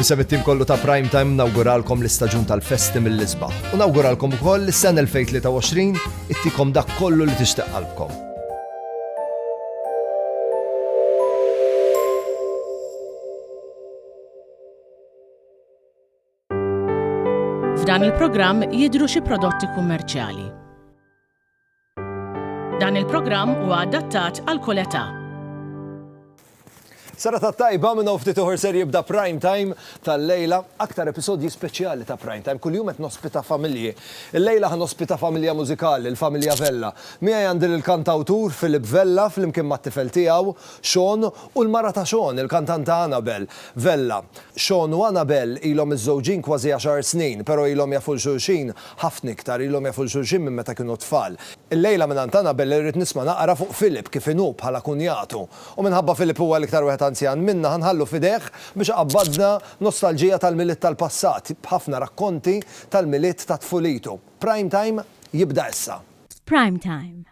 Nisem it-tim kollu ta' Prime Time nawguralkom l-istaġun tal-festi mill-isbaħ. U nawguralkom ukoll l-sen 2023 ittikom dak kollu li tixtaq qalbkom. F'dan il-programm jidru xi prodotti kummerċjali. Dan il-programm huwa adattat għal kull età. Sara ta' tajba minn ftit uħor ser jibda prime time tal-lejla, aktar episodji speċjali ta' prime time, kuljum qed nospita familji. Il-lejla ħan ospita familja mużikali, il-familja Vella. Miegħi għandi lill-kantawtur Philip Vella flimkien mat-tifel tiegħu, Sean, u l-mara ta' Sean, il-kantanta Anabel Vella. Sean u Anabel ilhom miżżewġin kważi għaxar snin, però ilhom jafu 'l xulxin Ħafna iktar ilhom jafu 'l xulxin minn meta kienu tfal. Illejla mingħand Anabel irrid nisma' naqra fuq Philip kif inhu bħala kunjatu. U minħabba Philip huwa l-iktar wieħed anzjan minna ħa nħallu f'idejh biex iqabbadna nostalġija tal-Milied tal-passat b'ħafna rakkonti tal-Milied ta' tfulitu. Prime Time jibda issa. Prime Time,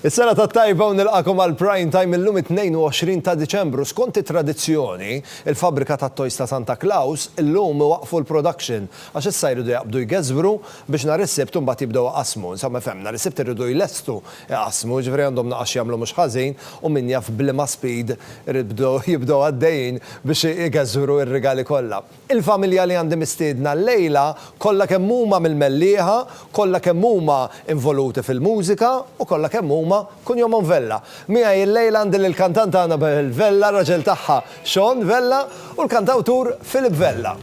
Is-sena tat-tajba u nilqagħkom għal Prime Time illum it-22 ta' Diċembru. Skont it-tradizzjoni, il-fabbrika tat-toys ta' Santa Claus illum iwaqqfu l-production għax issa jridu jaqbdu jgeżbru biex nhar is-Sibt imbagħad jibdew iqassmu. Insomma ifhem, nhar is-Sibt iridu jlestu iqassmu, jiġifieri għandhom naqas x'jagħmlu mhux ħażin u min jaf b'liema speed irid bdew jibdew għaddejjin biex igeżbru r-rigali kollha. Il-familja li għandi mistiedna llejla kollha kemm huma mill-Mellieħa, kollha kemm huma involuti fil-mużika u kollha kemm huma kun jomhom Vella. Miegħi llejla għandi lill-kantanta Anabel Vella, raġel tagħha Sean Vella u l-kantawtur Philip Vella.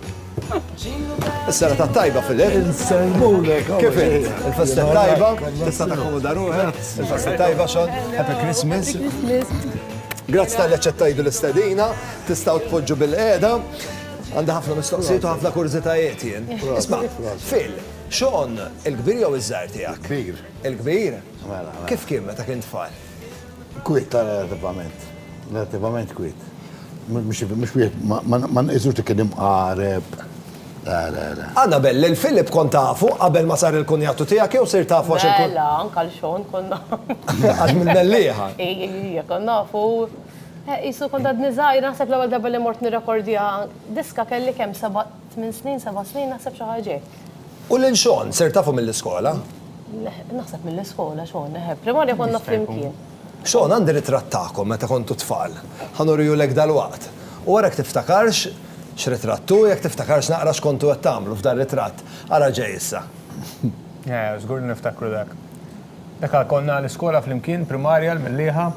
Is-serata t-tajba Philip. Insellmulek. Kif int? Il-festa t-tajba? Tista' takkomoda ruħek? Il-festa t-tajba Sean? Happy Christmas. Grazzi tal-li aċċettajtu l-istedina, tistgħu tpoġġu bil-qiegħda. Għandi ħafna mistoqsijiet u ħafna kurżitajiet jien. Isma', Phil, Sean, il-kbir jew iż-żgħir tiegħek? Il-kbir. Il-kbir? Mela. Kif kien meta kien tfal? Kwiet ta' relativament. Relativament kwiet. Mhux wieħed ma nqisux li kien imqareb. Le, le, le. Annabel, lil Philip kont tafu qabel ma sar il-kunjatu tiegħek jew sirt tafu għax il-. Mela, anke lil Sean kont nafu. Għax mill-mellieħa. Ejja, kont nafu. Qisu kont għadni żgħir, naħseb l-ewwel darba li mort nirrekordja diska kelli kemm seba' tmien snin, seba' snin naħseb xi ħaġa hekk. U lil Shawn sirt tafu mill-iskola? Naħseb mill-iskola Shawn, eħe, primarja konna flimkien. Shawn, għandi ritratt tagħkom meta kontu tfal. Ħa nurihulek dalwaqt. U ara jekk tiftakarx x'ritratt hu, jekk tiftakarx naqra x'kontu qed tagħmlu f'dan ritratt. Ara ġej issa. Eħe, żgur li niftakru dak. Dak konna l-iskola flimkien, primarja, l-Mellieħa.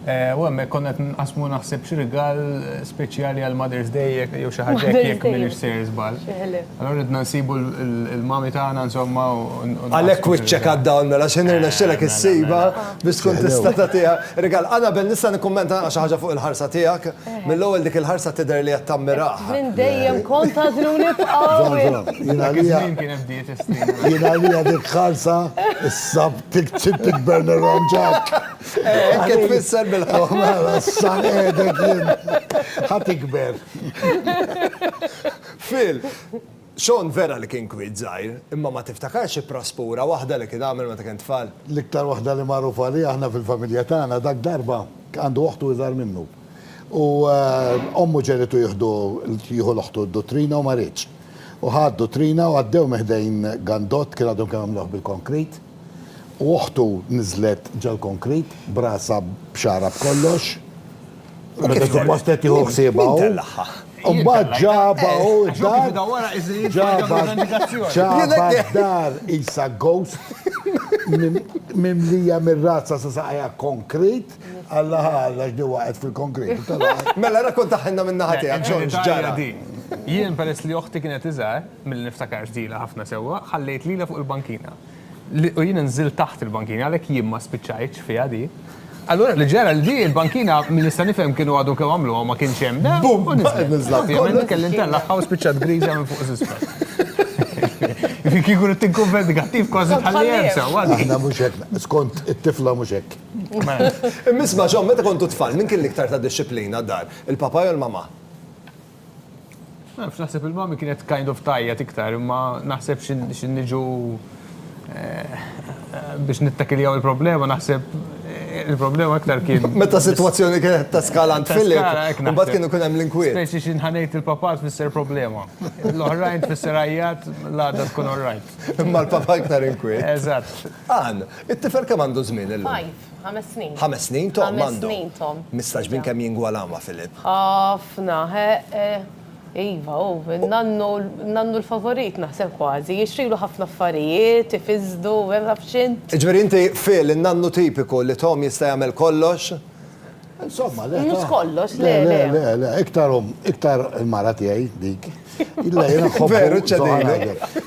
U hemmhekk konna qed nqassmu naħseb xi rigal speċjali għal Mother's Day jew xi ħaġa hekk jekk m'iniex sejjer żball. Allura ridna nsibu l-mami tagħna insomma u. Għalhekk wiċċek għad-dawl mela x'ħin irnexxielek issibha biex tkun tista' tagħtiha rigal. Anabel nista' nikkummenta xi ħaġa fuq il-ħarsa tiegħek? Mill-ewwel dik il-ħarsa tidher li qed tammirah. Minn dejjem kont tagħżluni f'qawwi. Dak iż-żmien kien hemm dieta. Jien għalija dik ħarsa s-Sabt tiktib tikbern irranġak. Hekk qed tfisser bil-ħaq. Mela, issa qiegħdek jien. Ħa tikber. Phil, Sean vera li kien kwiet żgħir, imma ma tiftakarx xi praspura waħda li kien għamel meta kien tfal? L-iktar waħda li magħruf għalija aħna fil-familja tagħna dak darba għandu oħtu iżgħar minnu. U ommu ġegħlitu jieħdu jieħu l-oħtu d-duttrina u ma riedx. u ħaddu trina u għaddew minn ħdejn gandott kien għadhom kemm għamluh bil-konkrit u oħtu niżlet ġol-konkrit b'rasha b'xagħarha b'kollox u meta suppost qed tieħu ħsiebha hu. Mbagħad ġabha u ġabha ġabha dar isa ghost mimlija mir-razza sa saqajha konkrit. taħt. Alla ħalla x'di waqgħet fil-konkretu tal-għar. Mela rakkontaħilna min-naħa tiegħek xogħol x'ġara. Jien peress li oħti kienet iżgħar milli niftakar x'dilha ħafna sewwa, ħallejt lilha fuq il-bankina. U jiena nżilt taħt il-bankina għalhekk jien ma spiċċajtx fiha di. Allura li ġara li di l-bankina minn nista' nifhem kienu għadhom kemm għamluha ma kienx hemm da. Bum! U niżlet fiha. Ovvjament kelli ntellagħha u spiċċat griża minn fuq żisfel. Kieku tinkumpet negattiv kważi tħalli hemm sewwa. Aħna mhux hekk, skont it-tifla mhux hekk. Imma John, meta kontu tfal, min kien l-iktar ta' dixxiplina d-dar? Il-papa jew l-mama? Naf, naħseb il-mommy kienet kind of tgħajjat iktar, imma naħseb xi niġu biex nittakiljaw il-problema, naħseb il-problema iktar kien. Meta s-sitwazzjoni kienet ta' skala għand Philip, imbagħad kien ikun hemm l-inkwiet. Speċi xi nħanejt il-papa tfisser problema. L-oħrajn tfisser għajjat l-għada tkun all right. Imma l-papa iktar inkwiet. Eżatt. Ann, it-tifel kemm għandu żmien illum? Five, ħames snin. Ħames snin Tom għandu? Ħames snin Tom. Mistax minn kemm jingwalaw ma' Filip? Ħafna, heeh. Iva, hu n-nannu, n-nannu l-favorit naħseb kważi. Jixtrilu ħafna affarijiet, ifiżżdu, ma nafx int. Jiġifieri inti Phil, in-nannu tipiku li Tom jista' jagħmel kollox? Insomma, le. Mhux kollox, le. Le, le, le, iktar um, iktar il-mara tiegħi dik. Illa jiena nħobbu. Veru ċedina.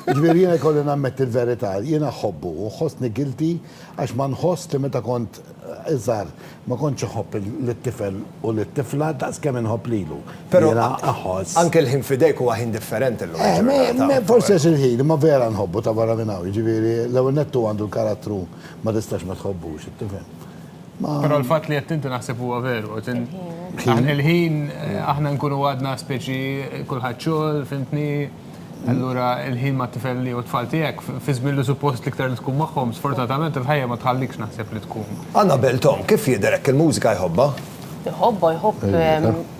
Ġifieri jiena jkolli nammet il-verità, jiena nħobbu u ħossni gilti għax ma nħoss li meta kont eh, iżgħar ma kontx iħobb lit-tifel u lit-tifla daqs kemm inħobb lilu. Però jiena aħoss. Anke l-ħin fidejk huwa ħin differenti llum. Eh, forsi għax il-ħin, ma vera nħobbu ta' barra minn hawn, ġifieri l-ewwel nettu għandu l-karattru ma tistax ma tħobbux, tifhem. Pero l-fat li jettinti naħseb huwa veru. Aħna l-ħin, aħna nkunu għadna speċi kullħat xogħol, fimtni, allura l-ħin ma tifel li u tfal tiegħek, fi żmien li suppost liktar li tkun magħhom, sfortunatament il-ħajja ma tħallikx naħseb li tkun. Anna Beltom, kif jidher hekk il-mużika jħobba? Jħobba, jħobb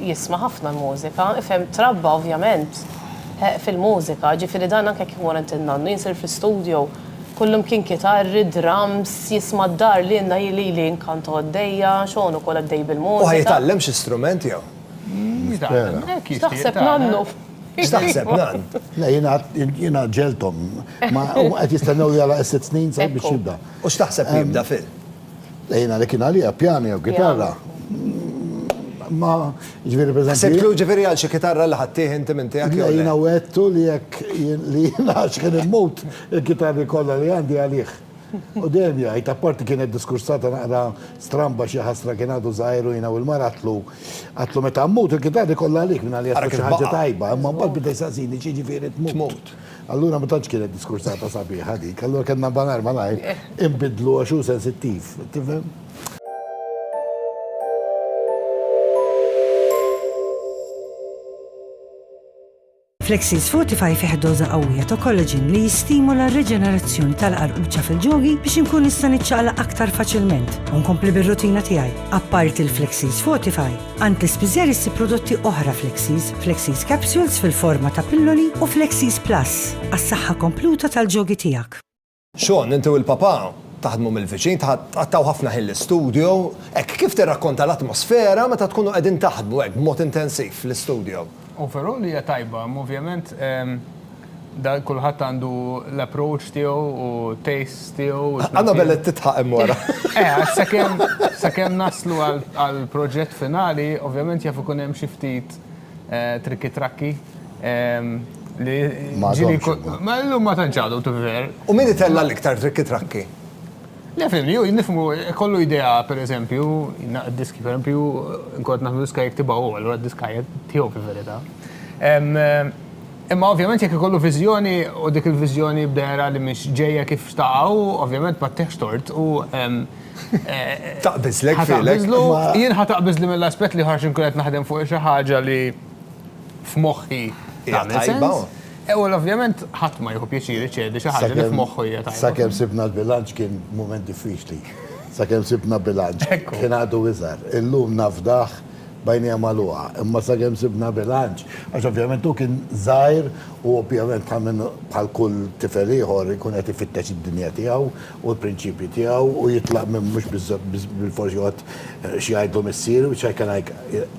jisma' ħafna l-mużika, ifhem trabba ovvjament fil-mużika, ġifieri dan anke kif mor għand in-nannu, jien sir fl-istudio, Kullum kien kitarri, drums, jisma' d-dar li inna hi lili inkanto għaddejja, Sean ukoll għaddej bil-mużika. U ħa jitgħallem xi strument jew? X'taħseb nannu? X'taħseb nann? Le jiena jiena ġegħelthom. Huma qed jistennew li jagħlaq is-sitt snin sabiex jibda. U x'taħseb li jibda fil? Ejna li kien għalija pjani jew kitarra. Ma ġviri per Sibtu ġviri għal xi kitarra li ħattih inti minn tiegħek. Ejna wettu li jekk li nax kien immut il-kitarri kollha li għandi għalih. U dejjem jgħid, apparti kienet diskursata naqra stramba xi ħasra kien għadu żgħiru jiena u l-mara tlu. Għatlu meta mmut il-kitarri kollha għalik minn għalija ħaġa tajba, imma mbagħad bidej saqsini xi ġifieri tmut. Allura ma tantx kienet diskursata sabiħa dik, allura kellna malajr malajr inbidlu għax hu sensittiv, tifhem? Flexies Fortify fih doża qawwija ta' collagen li jistimula r-riġenerazzjoni tal-qarquċċa fil-ġogi biex inkun nista' niċċaqlaq aktar faċilment u nkompli bir-rutina tiegħi. Apparti l-Flexies Fortify, Antlers Pizer issib prodotti oħra Flexies, Flexies Capsules fil-forma ta' pilloli u Flexies Plus għas-saħħa kompluta tal-ġogi tiegħek. Shawn, inti u l-papà taħdmu mill-viċin, tqattgħu ħafna ħin l-istudjo. Hekk, kif tirrakkonta l-atmosfera meta tkunu qegħdin taħdmu hekk b'mod intensiv fl-istudjo? Overall hija tajba, ovvjament, Dan kulħadd għandu l-approach tiegħu u tastes tiegħu. Annabel qed tidħaq hemm wara. Eh, sakemm sakemm naslu għall-proġett finali, ovvjament jaf ikun hemm xi ftit eh, trikki trakki. Ehm, li ġili ma llum ma tantx għadu tiver. U min itella l-iktar trikki trakki? Le fim, ju nifmu kollu idea per eżempju, diski per eżempju, nkot naħdu diska jektibaw, allura diska jektibaw fil-verita. Ehm, Imma ovvjament jekk ikollu viżjoni u dik il-viżjoni b'dehra li mhix ġejja kif xtaqha hu, ovvjament ma ttieħx tort u Taqbiżlek f'għilek. Ħa taqbiżlu, jien ħa taqbiżli mill-aspett li ħa nkun qed naħdem fuq xi ħaġa li f'moħħi tagħmel sens. U ovvjament ħadd ma jieħu pjaċir iċedi xi ħaġa li f'moħħu hija tajba. Sakemm sibna l-bilanċ kien mument diffiċli. Sakemm sibna bilanċ. Kien għadu iżgħar. Illum nafdah. b'għajnejha magħluqa, imma sakemm sibna bilanċ, għax ovvjament hu kien żgħir u ovvjament bħal min bħal kull tifel ieħor ikun qed ifittex id-dinja tiegħu u l-prinċipji tiegħu u jitlaq minn mhux bilfors joqgħod xi jgħidlu missieru, which I can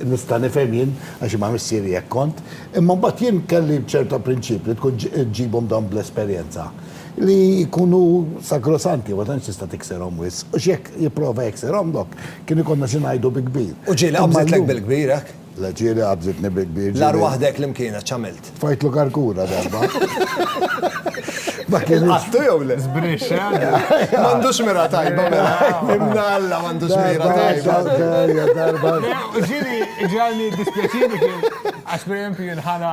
nista' nifhem jien għax jien ma' missieri hekk kont. Imma mbagħad jien kelli ċerta prinċipji li tkun ġġibhom dawn bl-esperjenza. li jkunu sakrosanti, ma tantx tista' tikserhom wisq, għax jekk jipprova jekserhom dok, kien ikollna xi ngħidu bi kbir. U ġieli qabżitlek bil-kbir hekk? Le, ġieli qabżitni bi kbir. L-agħar waħda hekk li mkienha x'għamilt? Tfajtlu karkura darba. Ilqattu jew le? Żbrixx, eh? M'għandux mira tajba mela. Imna Alla m'għandux mira tajba. Ġieli ġralni dispjaċir għax pereżempju jien ħana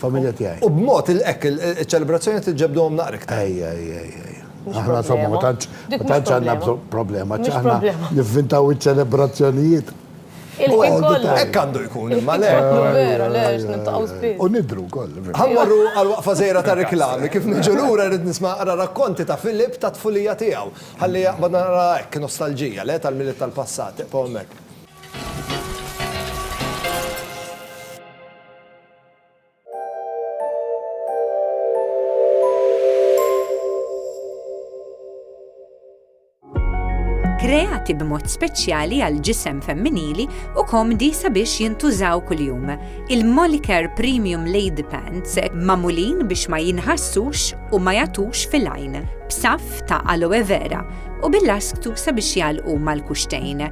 familja tiegħi. U b'mod hekk iċ-ċelebrazzjoni qed iġġebduhom naqra iktar. Ejja, ejja, ejja. Aħna insomma ma tantx ma tantx għandna bżonn problema, ċi aħna nivvintaw iċ-ċelebrazzjonijiet. Il-ħin kollu. Hekk għandu jkun, imma le. Vera, le, x'nintaqgħu spiss. U nidru wkoll. Ħa mmorru għal waqfa żgħira ta' reklami, kif niġu lura rrid nisma' ara rakkonti ta' Philip tat-tfulija tiegħu. Ħalli jaqbad nara hekk nostalġija, le, tal-milied tal-passat. Iqgħu hemmhekk. kreati b'mod speċjali għal ġisem femminili u komdi sabiex jintużaw kuljum. Il-Molicare Premium Lady Pants mamulin biex ma jinħassux u ma jatux fil-għajn, b'saf ta' aloe vera u bil-lasktu sabiex jalqu mal-kuxtejn.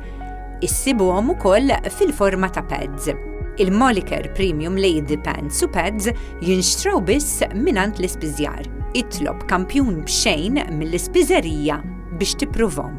Issibuhom ukoll fil-forma ta' pads il-Moliker Premium Lady Pants u Pads jinxtraw biss minant l-ispiżjar. Itlob kampjun b'xejn mill-ispiżerija biex tippruvom.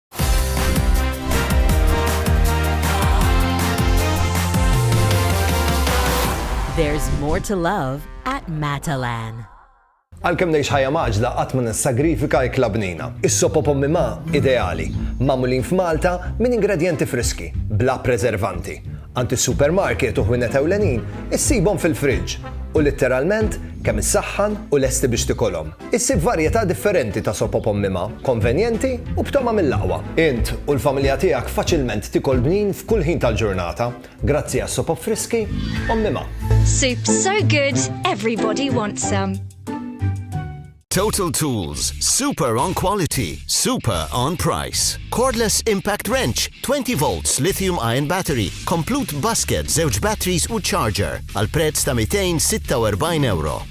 There's more to love at Matalan. Għalkemm ngħix ħajja maġla qatt ma nissagrifika ikla bnina. Is-sopo pommi ma ideali, magħmulin f'Malta minn ingredjenti friski, bla preservanti. Għand is-supermarket u ħwienet ewlenin issibhom fil-friġġ u litteralment kemm issaħħan u lesti biex tikolhom. Issib varjetà differenti ta' sopop ommima, konvenjenti u b'togħma mill-aqwa. Int u l-familja tiegħek faċilment tikol bnin f'kull ħin tal-ġurnata grazzi għas-sopop friski ommima. Soup so good, everybody wants some. Total Tools, super on quality, super on price. Cordless impact wrench, 20 volts lithium ion battery, komplut basket, żewġ batteries u charger għal prezz ta' €246.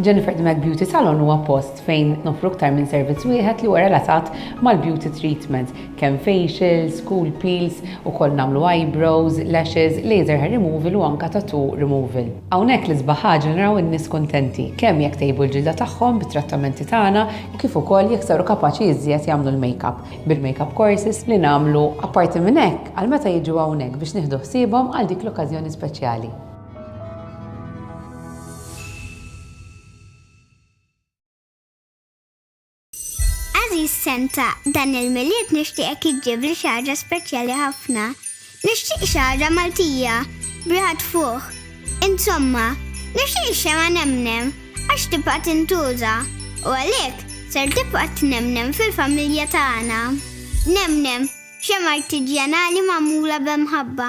Jennifer the Mac Beauty Salon huwa post fejn noffru aktar minn servizz wieħed li huwa relatat mal-beauty treatment, kemm facials, cool peels, ukoll nagħmlu eyebrows, lashes, laser hair removal u anke tattoo removal. Hawnhekk l-isbaħ ħaġa li naraw in-nies kuntenti, kemm jekk tejbu l-ġilda tagħhom bit-trattamenti tagħna u kif ukoll jekk saru kapaċi iżjed jagħmlu l-makeup bil-makeup courses li nagħmlu. Apparti minn hekk, għal meta jiġu hawnhekk biex nieħdu ħsiebhom għal dik l-okkażjoni speċjali. Għażiż Santa, dan il-Milied nixtieqek iġġibli xi ħaġa speċjali ħafna. Nixtieq xi ħaġa Maltija, b'riħa tfuħ. Insomma, nixtieq ix-xemgħa nemnem għax tibqa' tintuża u għalhekk ser tibqa' tnemnem fil-familja tagħna. Nemnem, xemgħa artiġjanali magħmula b'imħabba.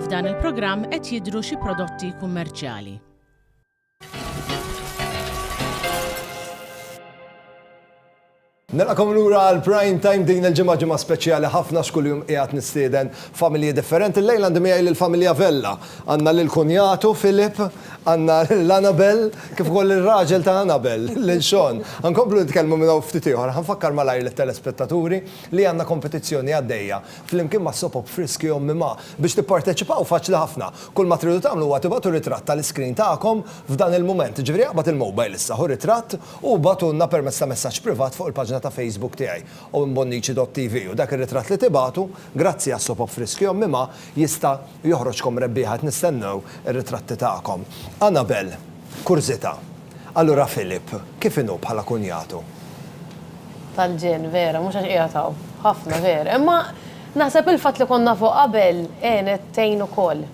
F'dan il-programm qed jidhru xi prodotti kummerċjali. Nilqakom lura għal prime time din il-ġimgħa ġimgħa speċjali ħafna x'kuljum qiegħed nistieden familji differenti. Lejla għandi miegħi lill-familja Vella. Għandna lil kunjatu Filip, għandna lil Anabel, kif ukoll ir-raġel ta' Anabel, lil Sean. Għankomplu nitkellmu minn hawn ftit ieħor, ħanfakkar malajr lit-telespettaturi li għandna kompetizzjoni għaddejja flimkien ma' sopop friski u mmimgħa. Biex tipparteċipaw faċli ħafna. Kull ma tridu tagħmlu huwa tibgħatu ritratt tal-iscreen tagħkom f'dan il-mument, jiġifieri aqbad il-mobile issa, ħu ritratt u ibgħatulna permezz ta' messaġġ privat fuq il-paġna ta' Facebook tiegħi, owenbonnici.tv u dak ir-ritratt li tibgħatu, grazzi għas-sopop friski u mmimgħa, jista' joħroġkom rebbieħa qed nistennew ir-ritratti tagħkom. Anabel, Kurżità. Allura Philip, kif inhu bħala kunjatu? Tal-ġenn, vera, mhux għax qiegħed hawn. Ħafna, vera. Imma naħseb il-fatt li konna nafuh qabel għenet tgħin ukoll.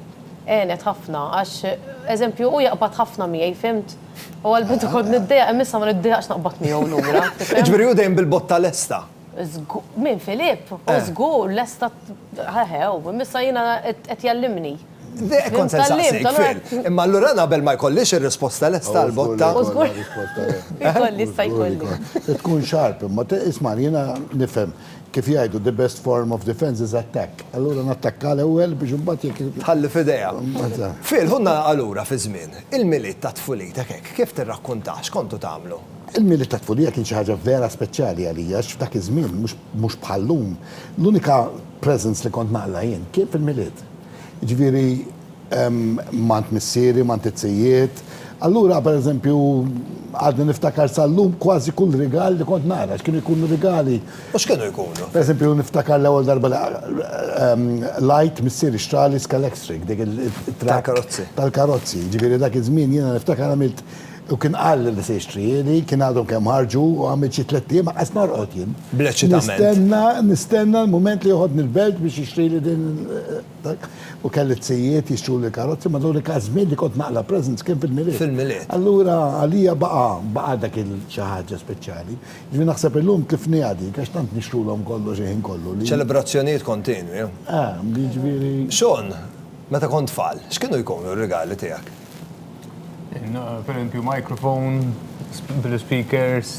Għenet ħafna għax, eżempju, hu jaqbad ħafna miegħi, fimt? U għall-bidu kont niddejjaq imma issa ma niddejjaqx naqbad miegħu lura. Jiġifieri hu dejjem bil-botta lesta. Min, Philip? Hu żgur lesta, eħe, hu, imma issa jiena qed jgħallimni. Dejq kont se nsaqsik fil. Imma allura naqbel ma jkollix ir-risposta lesta għal botta. U żgur. Ikolli sta jkolli. Tkun sharp imma isma' jiena nifhem kif jgħidu the best form of defense is attack. Allura nattakka l-ewwel biex imbagħad jekk. Tħalli f'idejha. Fil, ħu nagħlaqha lura fiż-żmien. Il-Milied ta' tfulitek hekk kif tirrakkuntah x'kontu tagħmlu? Il-Milied ta' tfulija kien xi ħaġa vera speċjali għalija għax f'dak iż-żmien, mhux bħal-lum, l-unika. presents li kont naqla' jien kien fil-Milied. Jiġifieri m'għand missieri, m'għand it-tzijiet. Allura, per eżempju, għadni niftakar sal-lum kważi kull rigal li kont naqra, x'kienu jkunu rigali. U x'kienu jkunu? Per eżempju, niftakar l-ewwel darba li qlajt missieri xtrali Scalextric, dik it-trakka tal-karozzi. Tal-karozzi. Jiġifieri dak iż-żmien jiena niftakar għamilt U kien qalli li se jixtrihieli, kien għadhom kemm ħarġu u għamilt xi tliet ijiem anqas ma rqgħod jien. Bl-eċitament. Nistenna, nistenna l-mument li joħodni l-belt biex jixtrieli din dak. U kelli t-sijiet jixtruli l-karozzi, ma l-unika żmien li kont naqla' presents kien fil-Milied. Fil-Milied. Allura għalija baqa', baqa' dak il xi ħaġa speċjali. Jiġifieri naħseb illum tlifniha dik għax tant nixtrulhom kollox il-ħin kollu li. Ċelebrazzjonijiet kontinwi. Eh, jiġifieri. Sean, meta kont tfal, x'kienu jkunu r-rigali tiegħek? Pereżempju microphone, blu speakers,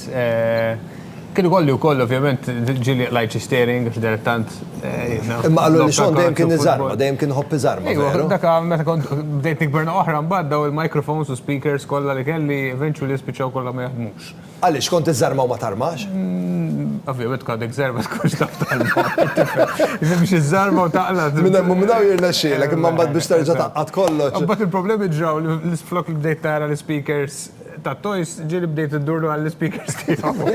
kien ikolli wkoll ovvjament ġieli qlajt xi steering għax dilettant. Imma qallu li Sean dejjem kien iżarma, dejjem kien iħobb iżarma. Iva, dak meta kont bdejt nikber naqa' oħra mbagħad dawn il-microphones u speakers kollha li kelli eventually spiċċaw kollha ma jaħdmux. Għaliex, kont iżżarma u ma tarmax? Ovvjament kont iżżarma tkunx taf tarma. Nimx iżżarma u taqla. Minn hemm u minn hawn jirnexxielek, imma mbagħad biex terġa' tgħaqqad kollox. Imbagħad il-problemi ġraw li flok li bdejt tara l-ispeakers tat-toys, ġieli bdejt indurlu għall-ispeakers tiegħu.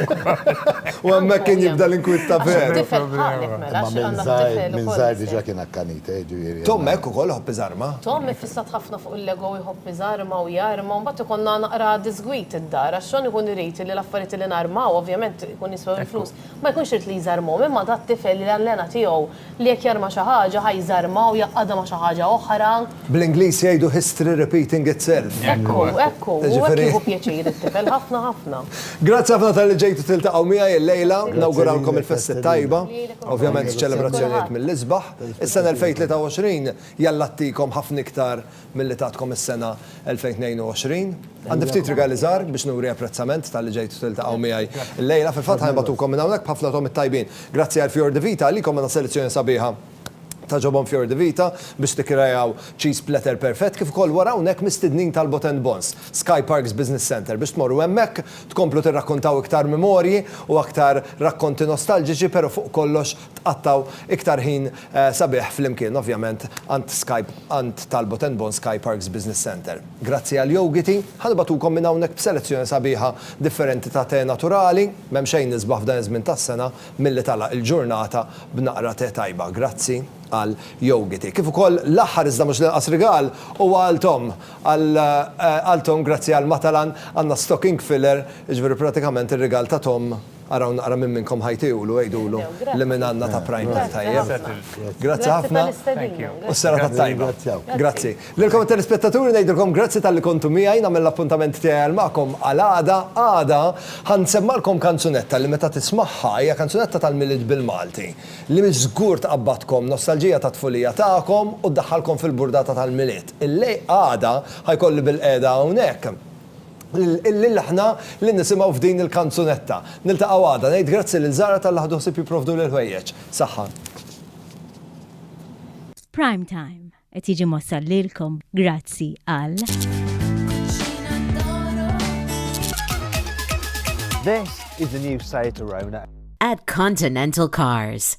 U hemmhekk kien jibda l-inkwiet ta' veru. Tifel ħaqqek mela, xi għandna tifel ukoll. Minn żgħir diġà kien akkanita, jiġifieri. Tom hekk ukoll iħobb iżarma. Tom iffissat ħafna u l-ego jħobb iżarma u jarma u mbagħad ikollna naqra diżgwid id-dar għax Sean ikun irid li l-affarijiet li narmaw, ovvjament ikun jiswew il-flus, ma jkunx irid li jżarmhom imma dat tifel li allena tiegħu li jekk jarma xi ħaġa ħa jżarmha u jgħaqqadha ma' xi ħaġa oħra. Bl-Ingliż jgħidu history repeating itself. Ekku, ekku, u hekk jieħu pjaċir it-tifel ħafna ħafna. Grazzi ħafna talli ġejtu tiltaqgħu miegħi illejla. Nawguralkom il-festi t-tajba. Ovvjament ċelebrazzjonijiet mill-isbaħ. Is-sena 2023 Jalla ttikom ħafna iktar milli tatkom is-sena 2022. Għandi ftit rigali żgħar biex nuri apprezzament talli ġejtu tiltaqgħu miegħi llejla. Fil-fatt ħa nibgħatukom minn hawnhekk b'ħafna togħmiet tajbin. Grazzi għal Fior di Vita, għalikom għandna selezzjoni sabiħa ta' ġobon Fior di Vita biex tikkreaw cheese platter perfett kif ukoll wara hawnhekk mistednin tal-Bot and Bons, Sky Parks Business Centre biex tmorru hemmhekk tkomplu tirrakkontaw iktar memorji u aktar rakkonti nostalġiċi pero fuq kollox tqattgħu iktar ħin sabiħ flimkien ovvjament għand Sky għand Talbot and Bon Sky Parks Business Centre. Grazzi għal Yogiti, ħa nibgħatukom minn hawnhekk b'selezzjoni sabiħa differenti ta' te naturali, m'hemm xejn isbaħ f'dan iż-żmien tas-sena milli tagħlaq il-ġurnata b'naqra te tajba. Grazzi għal Yogiti. Kif ukoll l-aħħar iżda mhux l-inqas rigal huwa għal Tom. Għal Tom grazzi għal Matalan għandna stocking filler, jiġifieri pratikament ir-rigal ta' Tom Araw naqra minn minnkom ħa jtiegħulu, għidulu li minn għandna ta' Primekk, tajjeb? Grazzi ħafna u s-sera tat-tajba. Grazzi. Lilkom it-telespettaturi ngħidilkom grazzi talli kontu miegħi, nagħmel l-appuntament tiegħi għal magħkom għal għada, għada ħa nsemmagħlkom kanzunetta li meta tismagħha, hija kanzunetta tal-Milied bil-Malti, li żgur tqabbadkom nostalġija tat-tfulija tagħkom u ddaħħalkom fil-burdata tal-Milied. Illej, għada, ħa jkolli bilqiegħda hawnhekk. lil aħna li nisimgħu f'din il-kanzunetta. Niltaqgħu għada. Ngħid grazzi lil Zara talli ħadu ħsieb jipprovduli l-ħwejjeġ. Saħħa. Prime Time qed jiġi mwassal lilkom grazzi għal. This is the new Seat Arona. At Continental Cars.